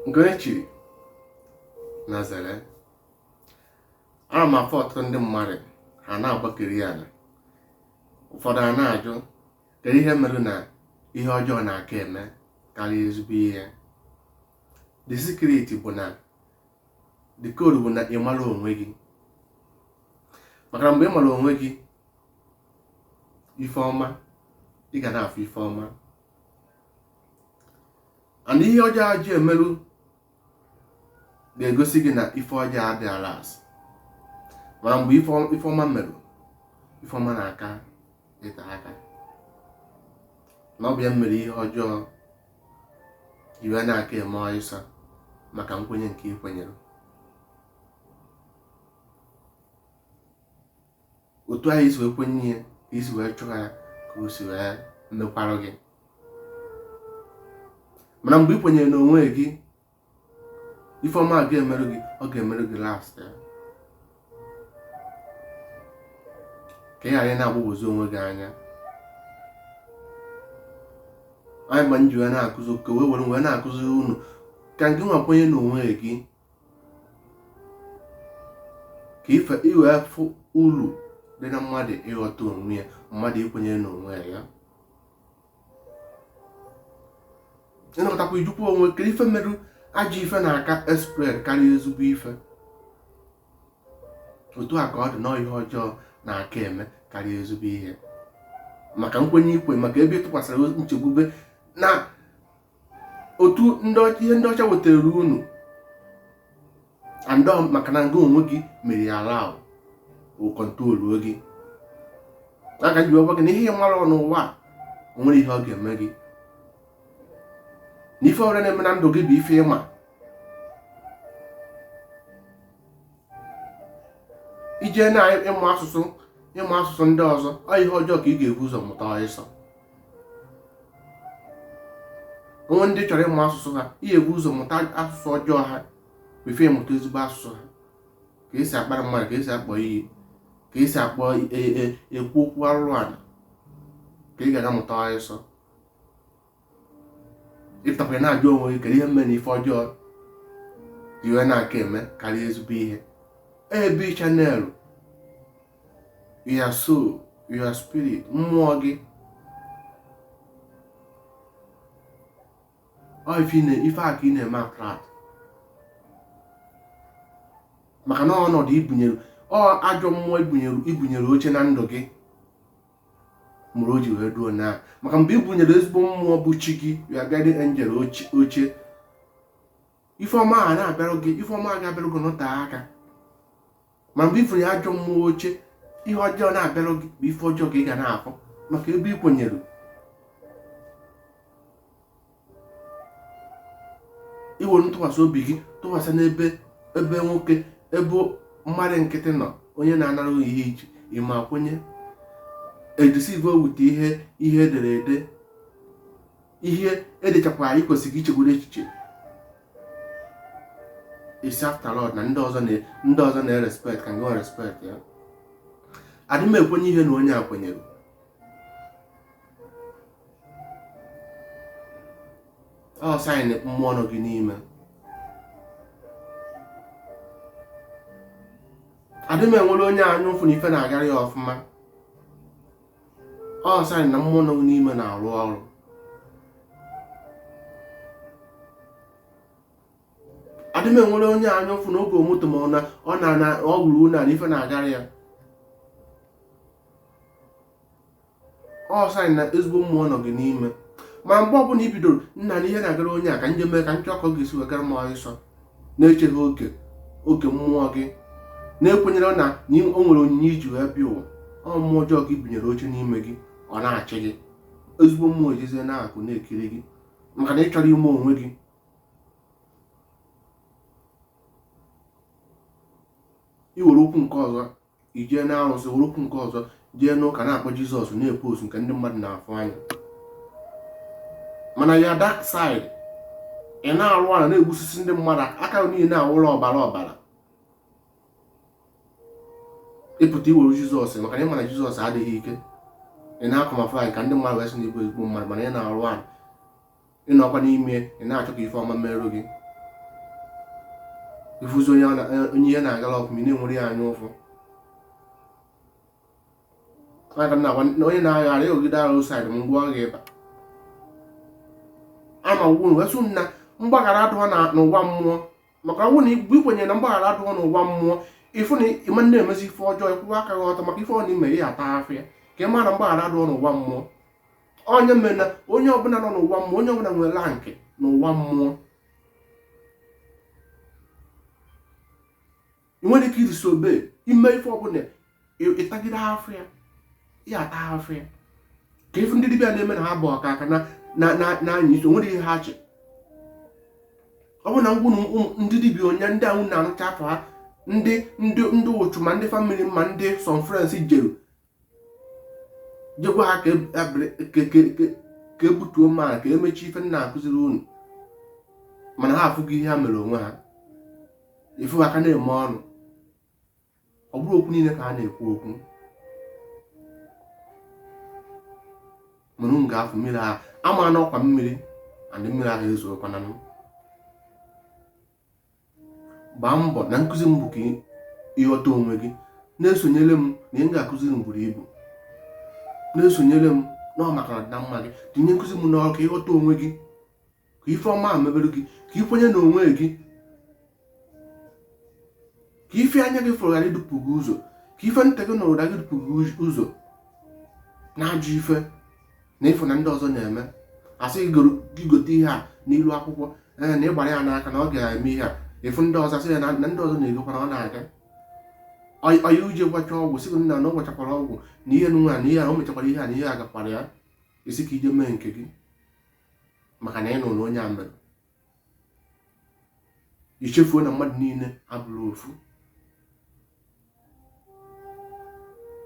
nke onye chiri na zere ana m afụ ọtụtụ ndị mmadụ ha na-agbakiri ana ụfọdụ a na-ajụ kedu ihe mere na ihe ọjọọ na-aka eme karịa ezigbo ihe the secret bụ na the code bụ na ị mara onwe gị maka na mgbe ị mara onwe gị ife ọma ị ga na-afụ ife ọma and ihe ọjọọ a ji emerụ ga-egosi gị na ife ọjọọ adịghị alast ma mgbe ife ọma merụ ife ọma na-aka ite aka na ọ bụ ya mere ihe ọjọọ ji wee na-aka eme ọsịsọ maka nkwenye nke ị kwenyere otu ahụ i si wee kwenye ihe ka i si wee chụọ ya ka o si wee mekwarụ gị mana mgbe ị kwenyere n'onwe gị ife ọma ga-emerụ gị ọ ga-emerụ gị lastịa ka ị ghara ị na-agbagwozi onwe gị anya anyị ma nji wee na-akụzi ka wee were wee na-akụzi unu ka gị nwa kwenye n'onwe gị ka ife ị wee fụ uru dị na mmadụ ịghọta onwe ya mmadụ ikwenye n'onwe ya ya ị nọkọtakwa ị jụkwa onwe ke ife merụ ajọ ife na-aka espread karịa ezigbo ife otu a ka ọ dị na ihe ọjọọ na-aka eme karịa ezigbo ihe maka nkwenye ikwe maka ebe ị tụkwasịrị nchekwube na otu ihe ndị ọcha wetara unu and maka na ngị onwe gị mere ya allow ọ controlụ gị aka ji agwa gị na ihe ị mara n'ụwa o nwere ihe ọ ga-eme gị na ife ọ bụla na-eme na ndụ gị bụ ife ị ma i jee na ịmụ asụsụ ịmụ asụsụ ndị ọzọ ọ ihe ọjọọ ka ị ga-ebu ụzọ mụta ọsịsọ o nwee ndị ị chọrọ ịmụ asụsụ ha ị ga-ebu ụzọ mụta asụsụ ọjọọ ha before ị mụta ezigbo asụsụ ha ka e si akparị mmadụ ka e si akpọ iyi ka e si akpọ e, e, ekwu okwu arụrụ ala ka ị ga-aka amụta ọsịsọ ị pụtakwa na-ajụ onwe gị kedu ihe mere na ife ọjọọ ji wee na-aka eme karịa ezigbo ihe ebe ị channelụ your soul your spirit mmụọ gị ife a ka ị na-eme attract maka na ọnọdụ i bunyere ọ ajọ mmụọ i bunyere oche na ndụ gị merụ o ji wee duo na maka mgbe i bunyere ezigbo mmụọ bụ chi gị your guardian angel oche ife ọma a na-abịarụ gị ife ọma ga-abịarụ gị nọta aka ma mgbe i bunye ajọ mmụọ oche ihe ọjọọ na-abịarụ gị bụ ife ọjọọ ka ị ga na-afụ maka ebe ị kwenyere i were ntụkwasị obi gị tụkwasị n'ebe nwoke ebe mmadụ nkịtị nọ onye na-anara ihe iche ị ma kwenye e deceive wute ihe e dere ede ihe e dechakwa anyị kwesịrị ichegbu n'echiche ị sị after all na ndị ọzọ ndị ọzọ na-erespect ka ngị respect ya adị m ekwenye ihe na onye a kwenyere ọ sign mmụọ nọ gị n'ime adị m enwere onye anya ụfụ na ife na-agara ya ọfụma ọ sign na mmụọ nọ gị n'ime na-arụ ọrụ adị m enwere onye anya ụfụ na o goro moto ma ọ na na o wuru ụlọ na ife na-agara ya ọ sign na ezigbo mmụọ nọ gị n'ime ma mgbe ọbụla i bidoro nna na ihe na-agara onye a ka nje mee ka nchọọ ka ọ ga-esi wee gara m ọsịsọ na-echeghị oge oke mmụọ gị na-ekwenyere na o nwere onyinye i ji wee bịa ụwa ọ mmụọ ọjọọ ka i bunyere oche n'ime gị ọ na-achị gị ezigbo mmụọ ejezie n'akụkụ na-ekiri gị maka na ị chọrọ ime onwe gị i were ụkwụ nke ọzọ jee n'arụsị were ụkwụ nke ọzọ jee n'ụka na-akpọ jizọs na-epost nke ndị mmadụ na-afụ anya mana your dark side ị na-arụ ala na-egbusisi ndị mmadụ aka niile na-awụrụ ọbara ọbara ị pụta i were jizọs maka na ị ma na jizọs adịghị ike ị na-acamouflage ka ndị mmadụ wee sị na ị bụ ezigbo mmadụ mana ị na-arụ ala ị nọkwa n'ime ị na-achọ ka ife ọma merụ gị ị fụzie onye ihe na-agala ọfụma ị na-enwere ya anya ụfụ onye na-aghara ịghọgide arụ saịdị m ngwa ọ ga-ịba ama gwuru wee sị na mgbaghara adụọ n'ụwa mmụọ maka ọ bụrụ na i kwenyere na mgbaghara adụọ n'ụwa mmụọ ị fụ na ị ma na-emezi ife ọjọọ ị kwụwa aka gị ọtọ maka ife ọ na i me ị ya-ata afụfụ ya ka ị mara na mgbaghara adụọ n'ụwa mmụọ onye mere na onye ọbụla nọ n'ụwa mmụọ onye ọbụla nwere rank n'ụwa mmụọ ị nwere ike iri sobe ime ife ọbụla ịtagide afọ ya ya ata afọ ya ka ife ndị dibịa na-eme na ha bụ ọka aka na-anya isi o nwere ihe ha che ọ bụ na ngwa ndị dibịa onye ndị ahụ na-anụcha afọ ha ndị ndị ndị ụchụ ma ndị family ma ndị some friends jeru jekwa ha ka ebutuo m ma ka emechi ife m na-akụziri unu mana ha afụgo ihe ha mere onwe ha ị fụ ha ka ha na-eme ọnụ ọ bụrụ okwu niile ka ha na-ekwu okwu mana m ga-afụ mmiri ahụ ama n'ọkwa mmiri and mmiri ahụ ezokwana m gbaa mbọ na nkụzi m bụ ka ịghọta onwe gị na-esonyere m na ihe m ga-akụzi buru ibu na-esonyere m na ọ maka ọdị na mma gị tinye nkụzi m n'ọrụ ka ịghọta onwe gị ka ife ọma mebere gị ka ị kwenye na onwe gị ka ife anya gị fụrụ ghara idupụ gị ụzọ ka ife ntị gị nụrụ ghara idupụ gị ụzọ na-ajụ ife na ịfụ na ndị ọzọ na-eme asị ị gote ihe a n'ilu akwụkwọ ee na ịgbara ya n'aka na ọ ga-eme ihe a ịfụ ndị ọzọ asị ya na ndị ọzọ na-egokwana ọ na-aga onye a eje gwọcha ọgwụ sị na na ọ gwọchakwara ọgwụ na ihe nwa na ihe a o mechakwara ihe a na ihe a gakwara ya ị sị ka i je mee nke gị maka na ị nụrụ onye a mere ichefuo na mmadụ niile abụrọ ofu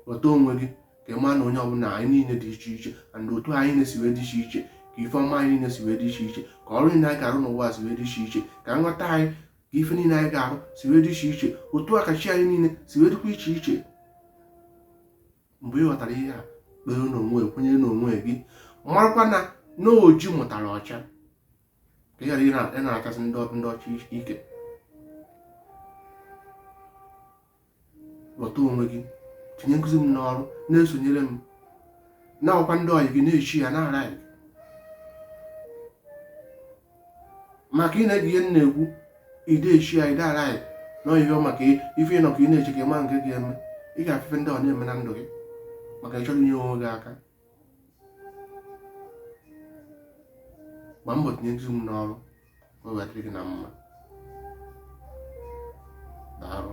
ghọta onwe gị ka ị maa na onye ọbụla anyị niile dị iche iche and otu anyị niile si wee dị iche iche ka ife ọma anyị niile si wee dị iche iche ka ọrụ niile anyị ga-arụ n'ụwa si wee dị iche iche ka nghọta anyị ka ife niile anyị ga-arụ si wee dị iche iche otu a ka chi anyị niile si wee dịkwa iche iche mgbe ị ghọtara ihe a kpere n'onwe kwenyere n'onwe gị marakwa na na oji mụtara ọcha ka ị ghara ị na-achọsi ndị ọcha ike ghọta onwe gị tinye nkụzi m n'ọrụ na-esonyere m na-agwakwa ndị ọyị gị na-eshare na-alike maka ị na-ege ihe m na-ekwu ị da-eshare ị da-alike na ihe maka ife ịnọ ka ị na-eche ka ịma nke ga-eme ị ga-afụ ife ndị ọ na-eme na ndụ gị maka ịchọrọ inye onwe gị aka gba mbọ tinye nkụzi m n'ọrụ o wetara gị na mma daalụ